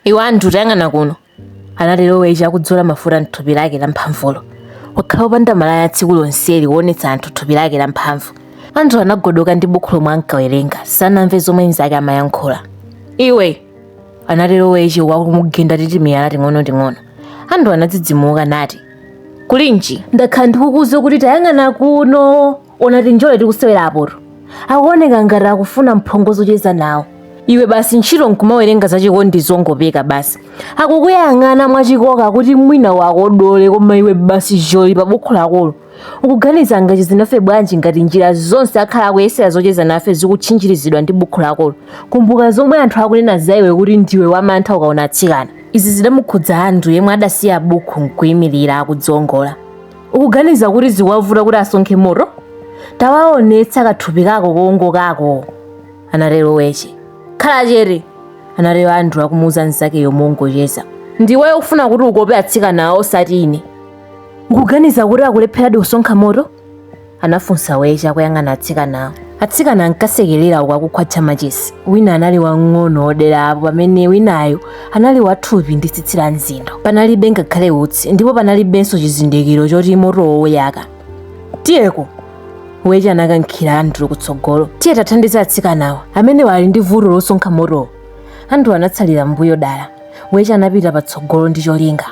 Iwe Andrew tayang'ana kuno, anatero Weche akudzola mafuta m'thupi lake lamphamvulo. Wakhala wopanda malaya tsiku lonseli kuonetsa anthu thupi lake lamphamvu. Andrew anagodoka ndi buku lomwe ankawerenga, sanamve zomwe mnzake amayankhula. Iwe! anatero Weche akumugenda ndi timiyala ting'onoting'ono. Andrew anadzidzimuka nati, Kulinji, ndakhala ndikukuuza kuti tayang'ana kuno! ona tinjole tikusewera apoto akuoneka ngati akufuna mphongo zocheza nawo iwe basi ntchito nkumawerenga zachikondi zongopeka basi akukuyang'ana mwachikoka kuti mwina uwakodole koma iwe basi joli pa bukhu lakolo ukuganiza angacheze nafe bwanji ngati njira zonse akhala akuyesera zocheza nafe zikutchinjirizidwa ndi bukhu lakolo kumbuka zomwe anthu akunena za iwe kuti ndiwe wamantha ukaona atsikana izi zidamukhudza andrew yemwe adasiya bukhu nkuyimirira akudzongola ukuganiza kuti zikuwavuta kuti asonkhe moto tawaonetsa kathupi kako kowongokako anatero weche khala chete anatero andrew akumuuza mnzakeyo mongocheza ndiwe ufuna kuti ukope atsikanawo osati ine ukuganiza kuti akulepheradi kusonkha moto anafunsa weche akuyang'ana atsikanawo atsikana ankasekerera uku akukhwatcha machesi wina anali wang'ono odera apo pamene winayo anali wathupi ndi tsitsi la mzindo panalibe ngakhale utsi ndipo panalibenso chizindikiro choti motowo uyaka tiyeko weche anakankhira andrew kutsogolo tiye tikathandize atsikanawa amene ali ndi vuto losonkha motowo andrew anatsalira mbuyo dala weche anapita patsogolo ndi cholinga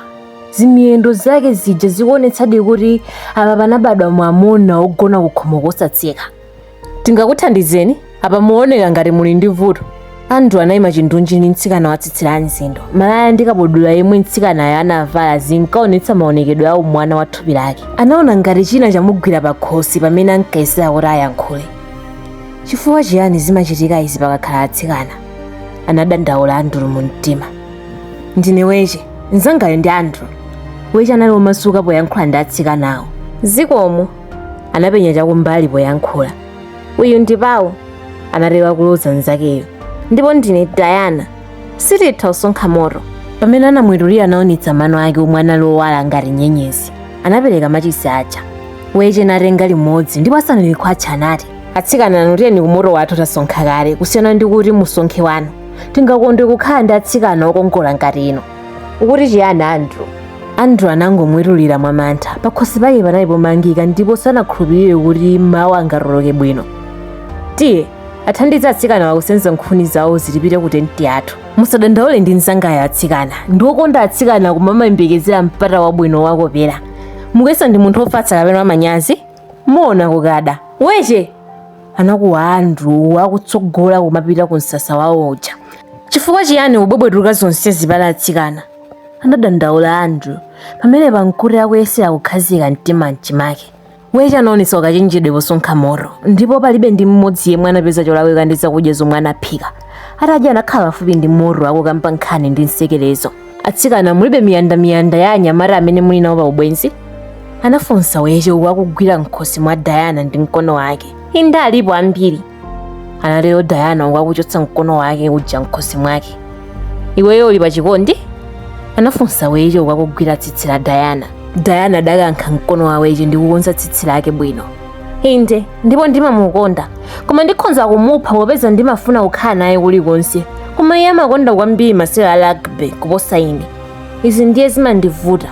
zimiyendo zake zija zikuonetsadi kuti apa panabadwa mwamuna wogona kukhomo kosatseka tingakuthandizeni apa muoneka ngati muli ndi vuto andrew anayima chindunji ndi mtsikana watsitsi la mzindo malaya ndi kabudula yemwe mtsikanayo anavala zinkaonetsa maonekedwe a umwana wa thupi lake anaona ngati china chamugwira pa khosi pamene ankayesera kuti ayankhule chifukwa chiyani zimachitika izi pakakhala atsikana anadandaula andrew mu mtima ndine weche mnzangayo ndi andrew weche anali womasuka poyankhula ndi atsikanawo zikomo anapenya chakumbali poyankhula uyu ndi pawo anatero kuloza mnzakeyo ndipo ndine diana sititha kusonkha moto pamene anamwetulira anaonetsa mano ake omwe anali owala ngati nyenyezi anapereka machisi aja weche natenga limodzi ndipo asanalikhwatcha anati atsikana inu tiyeni kumoto wathu tasonkha kale kusiyana ndi kuti musonkhe wanu tingakondwe kukhala ndi atsikana okongola ngati inu ukuti chiyani andrew andrew anangomwetulira mwamantha pakhosi pake panali pomangika ndipo sanakhulupirire kuti mawu angatuluke bwino tiye uwathandize atsikanawa kusenza nkhuni zawozi tipite ku tenti yathu musadandaule ndi mzangayo atsikana ndi okonda atsikana koma amayembekezera mpata wabwino wowakopera mukuyesa ndi munthu ofatsa kapena wamanyazi muona kukada weche anakuwa andrew akutsogola kumapita ku msasa wawo uja chifukwa chiyani ukubwebwetuka zonse zija pa atsikana anadandaula andrew pamene pankuti akuyesera kukhazika mtima mchimake weche anaonetsa ukachenjede posonkha moto ndipo palibe ndi mmodzi yemwe anapeza cholakwika ndi zakudya zomwe anaphika atadya anakhala pafupi ndi moto akukamba nkhani ndi nsekerezo atsikana mulibe miyandamiyanda ya anyamata amene muli nawo pa ubwenzi anafunsa weche uku akugwira mkhosi mwa dayana ndi mkono wake inde alipo ambiri anatero dayana uku akuchotsa mkono wake uja mkhosi mwake iweyo uli pa chikondi anafunsa weche uku akugwira tsitsi la dayana dayana adakankha mkono wa weche ndi kukonza tsitsi lake bwino inde ndipo ndimamukonda koma ndikhonza kumupha popeza ndimafuna kukhala naye kulikonse koma iye amakonda kwambiri masewera a rugby kuposa ine izi ndiye zimandivuta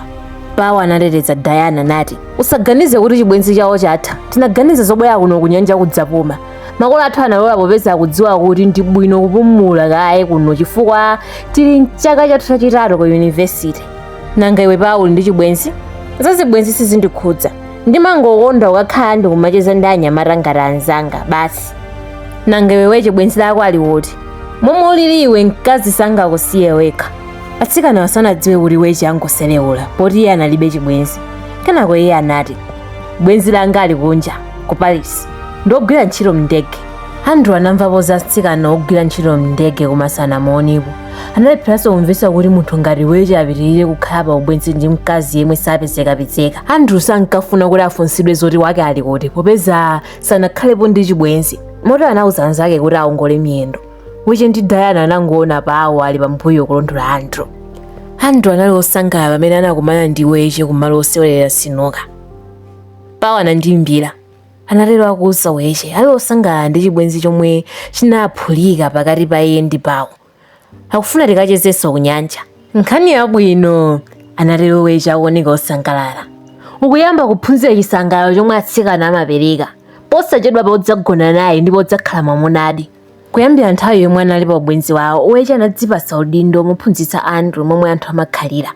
pawo anateteza diana nati usaganize kuti chibwenzi chawo chatha tinaganiza zobwera kuno kunyanja kudzapuma makolo athu analola popeza akudziwa kuti ndi bwino kupumula kaye kuno chifukwa tili mchaka chathu chachitatu ku yunivesite nanga iwe pawo uli ndi chibwenzi zazibwenzi sizindikhudza ndimangokonda kukhala ndikumacheza ndi anyamata ngati anzanga basi nanga iwe weche bwenzi lako ali kuti momwe ulili iwe mkazi sangakusiye wekha atsikana sanadziwe kuti weche ankangoselewula poti iye analibe chibwenzi kenako iye anati bwenzi langa ali kunja ku paris ndi wogwira ntchito mndege andrew anamvapo za atsikana ogwira ntchito mndege koma sanamuonepo analepheranso kumvetsa kuti munthu ngati weche apitirire kukhala pa ubwenzi ndi mkazi yemwe sapezekapezeka andrew sankafuna kuti afunsidwe zoti wake ali kuti popeza sanakhalepo ndi chibwenzi moti anauza anzake kuti aongole miyendo weche ndi diana anangoona pawo ali pambuyo kulondola andrew andrew anali osangalala pamene anakumana ndi weche kumalo osewerera sinuka pawo anandiimbira anatero akuuza Weche ali osangalala ndi chibwenzi chomwe chinaphulika pakati pa iye ndi Pawo. Akufuna tikachezenso kunyanja. Nkhani yabwino, anatero Weche akuoneka osangalala. Ukuyamba kuphunzira chisangalalo chomwe atsikana amapereka. Posachedwapa udzagona naye ndipo udzakhala mwamunadi. Kuyambira nthawi yomwe anali pa ubwenzi wawo, Weche anadzipatsa udindo womuphunzitsa Andrew momwe anthu amakhalira.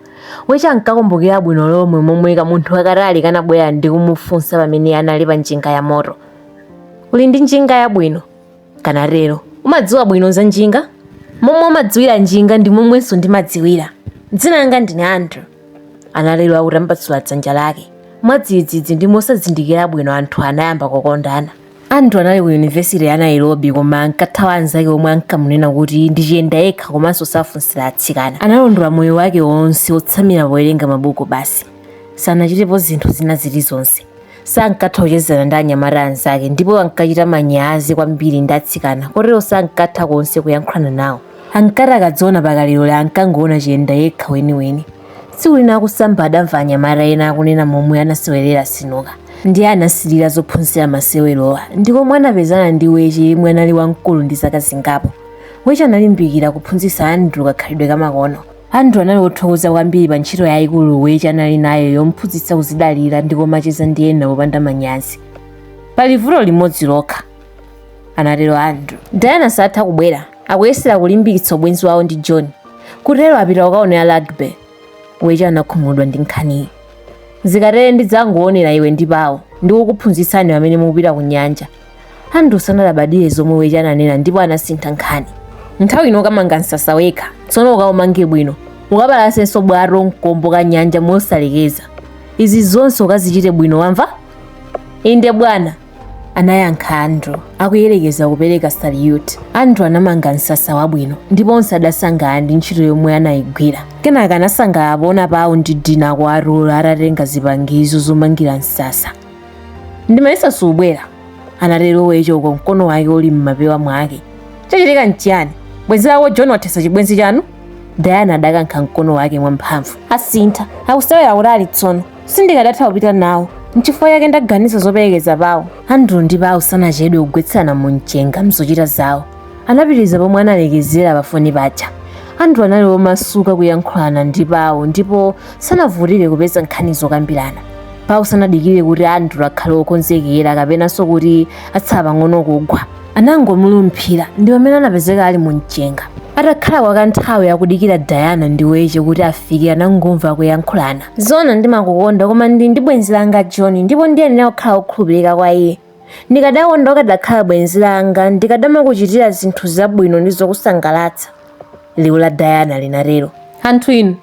Weche ankakumbukira bwino lomwe momwe kamunthu kakatali kanabwera ndi kumufunsa pamene anali pa njinga yamoto. Uli ndi njinga yabwino? kanatero. Umadziwa bwino za njinga? Momwe umadziwira njinga ndi momwenso ndimadziwira. Dzina langa ndine Andrew, anatero akutambasula dzanja lake. Mwadzidzidzi ndi mosazindikira bwino anthuwa anayamba kukondana. Andrew anali ku yunivesite ya Nairobi koma ankathawa anzake omwe ankamunena kuti ndi chiyenda yekha komanso safunsira atsikana. Analondola moyo wake wonse wotsamira powerenga mabuku basi. Sanachitepo zinthu zina zilizonse. Sankatha kuchezana ndi anyamata anzake ndipo ankachita manyazi kwambiri ndi atsikana kotero sankatha konse kuyankhulana nawo. Ankati akadziona pakalilole ankangoona chiyenda yekha weniweni. Tsiku lina akusamba adamva anyamata ena akunena momwe anasewerera sinuka ndiye anasilira zophunzira masewerowa ndi komwe anapezana ndi weche yemwe anali wamkulu ndi zaka zingapo weche analimbikira kuphunzitsa andrew kakhalidwe kamakono andrew anali wothokoza kwambiri pa ntchito yayikulu weche anali nayo yomphunzitsa kuzidalira ndi kumacheza ndi ena popanda manyazi pali vuto limodzi lokha anatero andrew diana satha kubwera akuyesera kulimbikitsa ubwenzi wawo ndi john kutero apita kukaonera rugby weche anakhumudwa ndi nkhaniyi zikatere ndidzangoonera iwe ndi pao ndi kukuphunzitsani pamene mukupita ku nyanja andrew sanalabadire zomwe weche ananena ndipo anasintha nkhani nthawi ino ukamanga msasa wekha tsono ukaumange bwino ukapalasenso bwato mkombo ka nyanja mosalekeza izi zonse ukazichite bwino wamva inde bwana anayankha andrew akuyerekeza kupereka saliyuti andrew anamanga msasa wabwino ndipo onse adasangalala ndi ntchito yomwe anayigwira kenaka anasangalala poona pao ndi diana kwa arulu atatenga zipangizo zomangira msasa ndimayesa subwera anatero weche uko mkono wake uli m'mapewa mwake chachitika nchiyani bwenzi lako john wathesa chibwenzi chanu diana adakankha mkono wake mwamphamvu asintha akusewera kutali tsono sindikadatha kupita nawo nchifukwa chake ndaganiza zoperekeza pao andrew ndi pao sanachedwe kugwetsana mu mchenga mzochita zawo anapitiriza pomwe analekezera pafoni paja andrew anali womasuka kuyankhulana ndi pao ndipo sanavutike kupeza nkhani zokambirana pao sanadikire kuti andrew akhale wokonzekera kapenanso kuti atsala pang'ono kugwa anangomulumphira ndi pamene anapezeka ali mu mchenga atakhala kwa kanthawi akudikira diana ndi weche kuti afike anangomva kuyankhulana zona ndimakukonda koma ndili ndi bwenzi langa john ndipo ndiyenera kukhala wokhulupirika kwa iye ndikadakonda ukadakhala bwenzi langa ndikadamakuchitira zinthu zabwino ndi zokusangalatsa liwu la diana linatero anthu inu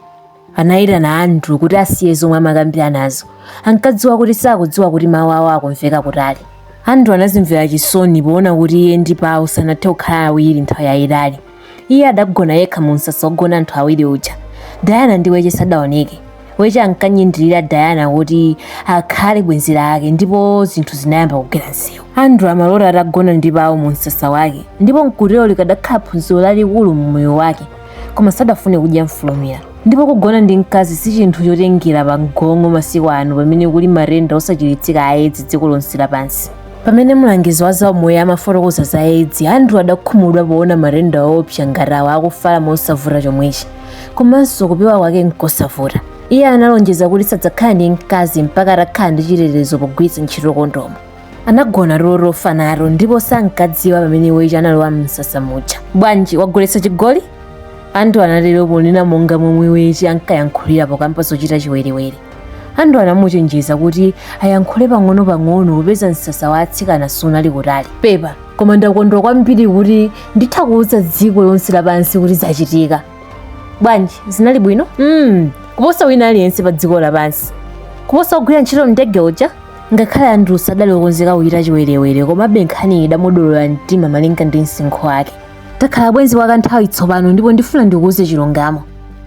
Anayitana Andrew kuti asiye zomwe amakambiranazo. Ankadziwa kuti sakudziwa kuti mawu awo akumveka kutali. Andrew anazimvera chisoni poona kuti iye ndi Pao sanathe kukhala awiri nthawi yayitali. Iye adagona yekha mu msasa wogona anthu awiri uja. Diana ndi Weche sadaoneke. Weche ankanyindirira Diana kuti akhale bwenzi lake ndipo zinthu zinayamba kugwera msewu. Andrew amalota atagona ndi Pao mu msasa wake ndipo nkutero likadakhala phunziro lalikulu mu moyo wake. koma sadafune kudya mfulumira ndipo kugona ndi mkazi si chinthu chotengera pa mgong'o masiku ano pamene kuli matenda osachiritsika a edzi dziko lonse lapansi pamene mlangizi wa zaumoyo amafotokoza za edzi andrew adakhumudwa poona matenda oopsa ngati awa akufala mosavuta chomwechi komanso kupewa kwake nkosavuta iye analonjeza kuti sadzakhala ndi mkazi mpaka atakhala ndi chitetezo pogwiritsa ntchito kondomu anagona tulo tofa nato ndipo sankadziwa pamene weche analowa mumsasa muja bwanji wagoletsa chigoli andrew anatero ponena monga momwe weche ankayankhulira pokamba zochita chiwerewere andrew anamuchenjeza kuti ayankhule pang'ono-pang'ono popeza msasa wa atsikana sunali kutali pepa koma ndakondwa kwambiri kuti nditha kuwuza dziko lonse lapansi kuti zachitika bwanji zinali bwino mm, kuposa wina aliyense pa dziko lapansi kuposa ogwira ntchito mndege uja ngakhale andrew sadali okonzeka kuchita chiwerewere komabe nkhaniyi idamudolola mtima malinga ndi msinkhu wake takhala bwenzi kwa kanthawi tsopano ndipo ndifuna ndikuuze chilungamo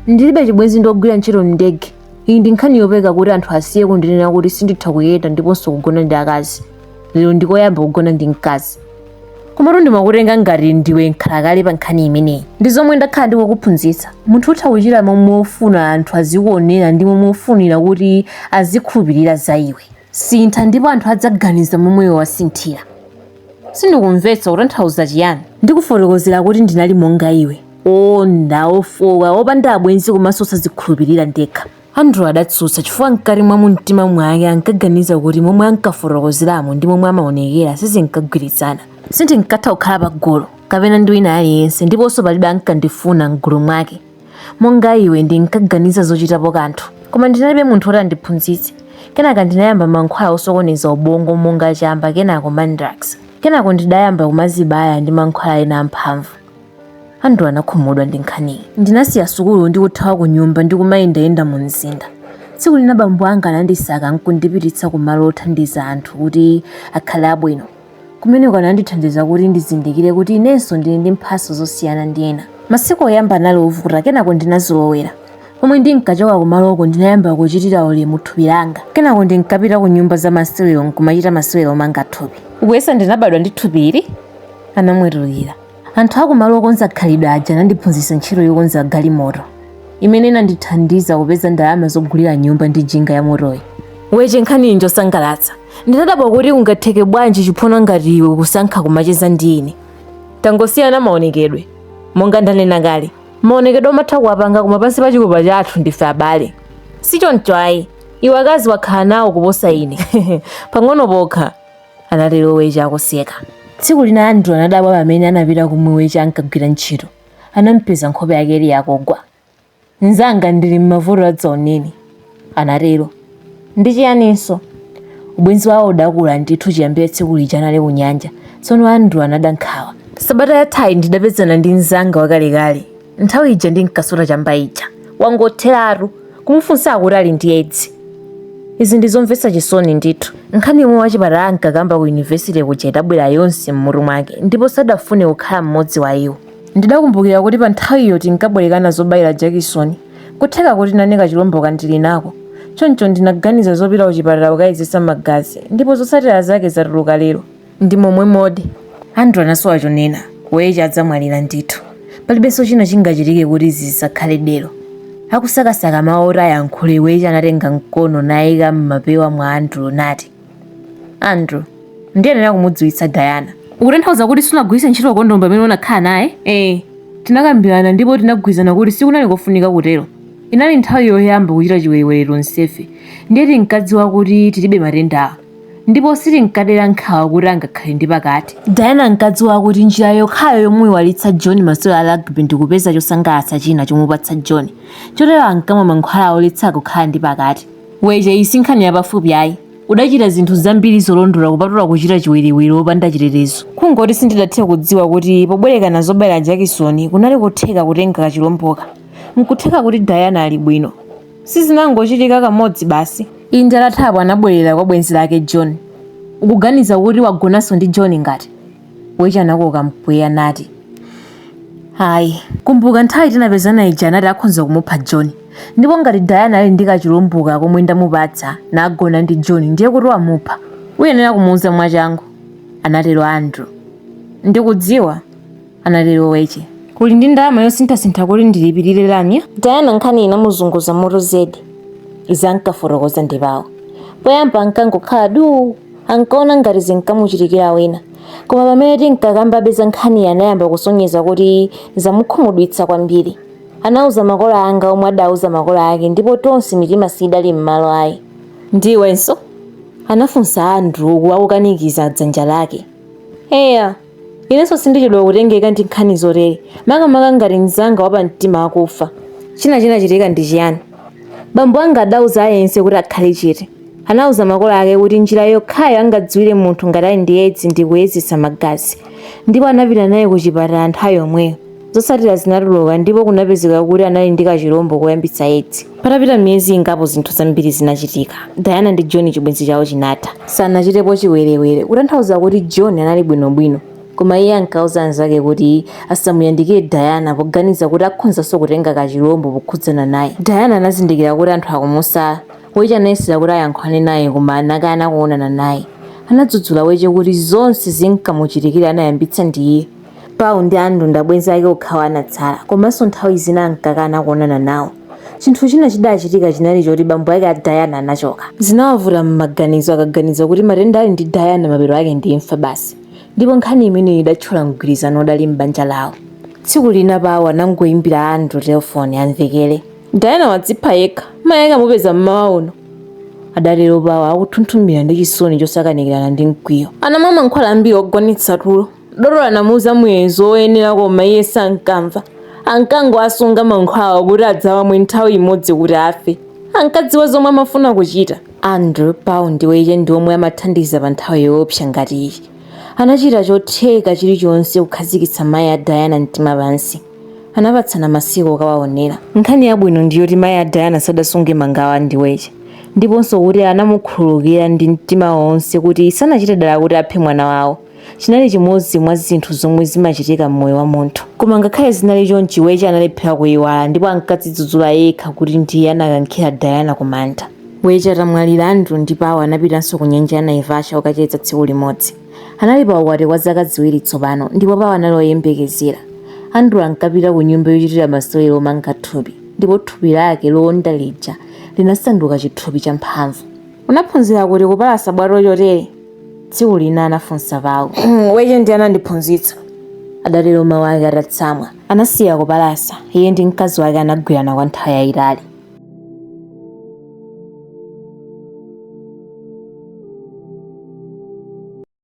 ndilibe chibwenzi ndi ogwira ntchito mndege iyi ndi nkhani yopeka kuti anthu asiye kundinena kuti sinditha kuyenda ndiponso kugona ndi akazi lero ndikoyamba kugona ndi mkazi komatu ndimakutenga ngati ndiwe nkhalakale pa nkhani imeneyi ndi zomwe ndakhala ndikukuphunzitsa munthu utha kuchita momwe ufuna anthu azikuonera ndi momwe ufunira kuti azikhulupirira za iwe sintha ndipo anthu adzaganiza momwe iwe wasinthira sindikumvetsa ukutanthauza chiyani ndikufotokozera kuti ndinali monga iwe onda ofoka opanda abwenzi komanso osazikhulupirira ndekha Andrew adatsutsa chifukwa mkati mwa mumtima mwake ankaganiza kuti momwe ankafotokozeramo ndi momwe amaonekera sizinkagwirizana. Sindinkatha kukhala pagulu kapena ndi wina aliyense ndiponso palibe ankandifuna m'gulu mwake. Monga iwe ndinkaganiza zochitapo kanthu, koma ndinalibe munthu woti andiphunzitse. Kenaka ndinayamba mankhwala osokoneza ubongo monga chamba kenako mandrax. Kenako ndidayamba kumazibaya ndi mankhwala ena amphamvu. Andrew anakhumudwa ndi nkhaniyi. Ndinasiya sukulu ndi kuthawa kunyumba ndi kumayendayenda mumzinda. Tsiku lina bambo anga anandisaka n'kundipititsa kumalo othandiza anthu kuti akhale abwino. Kumeneko anandithandiza kuti ndizindikire kuti inenso ndili ndi mphatso zosiyana ndi ena. Masiku oyamba anali ovuta kenako ndinazolowera. Pomwe ndinkachoka kumaloko ndinayamba kuchitira ulemu thupi langa. Kenako ndinkapita kunyumba za masewero n'kumachita masewero omanga thupi. Ukuyesa ndinabadwa ndi thupili? Anamwetulira. Anthu akumalo okonza khalidwe aja anandiphunzitsa ntchito yokonza galimoto imene inandithandiza kupeza ndalama zogulira nyumba ndi njinga ya motoyi. Weche nkhaniyi njosangalatsa. Ndinadabwa kuti kungatheke bwanji chiphona ngati iwe kusankha kumacheza ndi ine. Tangosiyana maonekedwe. Monga ndanena kale, maonekedwe umatha kuwapanga koma pansi pa chikopa chathu ndife abale. Si choncho ayi, iwe akazi wakhala nawo kuposa ine. Pang'ono pokha. anatero weche akuseka tsiku lina andrew anadabwa pamene anapita kumwe weche ankagwira ntchito anampeza nkhope yake ili yakugwa mnzanga ndili m'mavuto adzaoneni anatero ndi chiyaninso ubwenzi wawo udakula ndithu chiyambire tsiku lija anali kunyanja tsono andrew anada nkhawa sabata yathayi ndidapezana ndi mnzanga wakalekale nthawi ija ndinkasuta chamba ija wangotheratu kumufunsa akuti ali ndi edzi izi ndi zomvetsa chisoni ndithu nkhani yomwe wachipatala ankakamba ku yunivesite kuja idabwera yonse m'mutu mwake ndipo sadafune kukhala mmodzi wa iwo ndidakumbukira kuti pa nthawiyo tinkabwerekana zobayira jakisoni kutheka kuti nane kachilombo kandili nako choncho ndinaganiza zopita kuchipatala kukayezesa magazi ndipo zotsatira zake zatuluka lero Ndi momwemodi. Andrew anasowa chonena. Weche adzamwalira ndithu. Palibenso china chingachitike kuti izi zisakhale dero. Akusakasaka mawu oti ayankhule, Weche anatenga mkono naika m'mapewa mwa Andrew nati, Andrew, ndiyenera kumudziwitsa Diana. Ukutanthauza kuti sunagwiritse ntchito kondomu pamene unakhala naye? Ee. Tinakambirana ndipo tinagwirizana kuti sikunali kofunika kutero. Inali nthawi yoyamba kuchita chiwerewere tonsefe, ndiye tinkadziwa kuti tilibe matendawa. ndipo sitinkadera nkhawa kuti angakhale ndi pakati. Diana ankadziwa kuti njira yokhayo yomuiwalitsa John masewero a rugby ndi kupeza chosangalatsa china chomupatsa John, chotero ankamwa mankhwala oletsa kukhala ndi pakati. Weche, iyi si nkhani yapafupi ayi. Udachita zinthu zambiri zolondola kupatula kuchita chiwerewere wopanda chitetezo. Kungoti sindidathe kudziwa kuti pobwerekana zobayira jakisoni kunali kotheka kutenga kachilomboka. Nkutheka kuti Diana ali bwino. Sizinangochitika kamodzi basi. Inde atathapo anabwerera kwa bwenzi lake John. Ukuganiza kuti wagonanso ndi John ngati? Weche anakoka mpweya nati. Ayi, kumbuka nthawi tinapezana ija anati akhonza kumupha John. Ndipo ngati Diana ali ndi kachilomboka komwe ndamupatsa nagona ndi John ndiye kuti wamupha. Uyenera kumuuza mwachangu, anatero Andrew. Ndikudziwa, anatero weche uli ndi ndalama yosinthasintha kuti ndilipirire lamya diana nkhani inamuzunguza mutu zedi izi ankafotokoza ndi paulo poyamba ankangokhala duu ankaona ngati zinkamuchitikira wina koma pamene tinkakambabe za nkhani anayamba kusonyeza kuti zamukhumudwitsa kwambiri anauza makolo anga omwe adauza makolo ake ndipo tonse mitima siidali m'malo ayi ndiwenso anafunsa andrew akukanikiza dzanja lake eya Inenso sindichedwa kutengeka ndi nkhani zotere, makamaka ngati mnzanga wapamtima akufa. China chinachitika ndi chiyani? Bambo anga adauza aliyense kuti akhale chete. Anauza makolo ake kuti njira yokhayo angadziwire munthu ngati ali ndi Edzi ndi kuyezetsa magazi, ndipo anapita naye kuchipatala nthawi yomweyo. Zotsatira zinatuluka ndipo kunapezeka kuti anali ndi kachilombo koyambitsa Edzi. Patapita miyezi ingapo zinthu zambiri zinachitika. Diana ndi John chibwenzi chawo chinatha. Sanachitepo chiwerewere, kutanthauza kuti John anali bwinobwino. Koma iye ankauza anzake kuti asamuyandikire Diana poganiza kuti akhonzanso kutenga kachilombo pokhudzana naye. Diana anazindikira kuti anthu akumusala. Weche anayesera kuti ayankhulane naye koma anakana kuonana naye. Anadzudzula Weche kuti zonse zinkamuchitikira anayambitsa ndi iye. Paul ndi Andrew ndi abwenzi ake okhawa anatsala, komanso nthawi zina ankakana kuonana nawo. Chinthu china chidachitika chinali choti bambo ake a Diana anachoka. Zinawavuta m'maganizo akaganiza kuti matenda ali ndi Diana mapeto ake ndi imfa basi, ndipo nkhani imeneyi idathyola mgwirizano udali m'banja lawo. Tsiku lina Paul anangoimbira Andrew telefoni amvekere. Diana wadzipha yekha, mayi ake amupeza m'mawa uno. Adatero Paul akuthunthumira ndi chisoni chosakanikirana ndi mkwiyo. Anamwa mankhwala ambiri ogonetsa tulo. Dotolo anamuuza muyezo woyenera koma iye sankamva. Ankangowasunga mankhwalawo kuti adzawamwe nthawi imodzi kuti afe. Ankadziwa zomwe amafuna kuchita. Andrew, Paul ndi Weche ndi omwe amathandiza pa nthawi yoopsa ngati iyi. Anachita chotheka chilichonse kukhazikitsa mayi a Diana mtima pansi. Anapatsana masiku okawaonera. Nkhani yabwino ndi yoti mayi a Diana sadasunge mangawa ndi Weche ndiponso kuti anamukhululukira ndi mtima wonse kuti sanachite dala kuti aphe mwana wawo. Chinali chimodzi mwa zinthu zomwe zimachitika m'moyo wa munthu. Koma ngakhale zinali chonchi, Weche analephera kuiwala ndipo ankadzidzudzula yekha kuti ndiye anakankhira Diana kumanda. Weche atamwalira, Andrew ndi Paul anapitanso ku nyanja ya Naivasha kukacheza tsiku limodzi. Anali pa ukwati kwa zaka ziwiri tsopano, ndipo Paul anali woyembekezera. Andrew ankapita ku nyumba yochitira masewero omanga thupi, ndipo thupi lake lowonda lija linasanduka chithupi cha mphamvu. Unaphunzira kuti kupalasa bwato chotere? Tsiku lina anafunsa Paul. Weche ndiye anandiphunzitsa. Adatero mawu ake atatsamwa. Anasiya kupalasa, iye ndi mkazi wake anagwirana kwa nthawi yayitali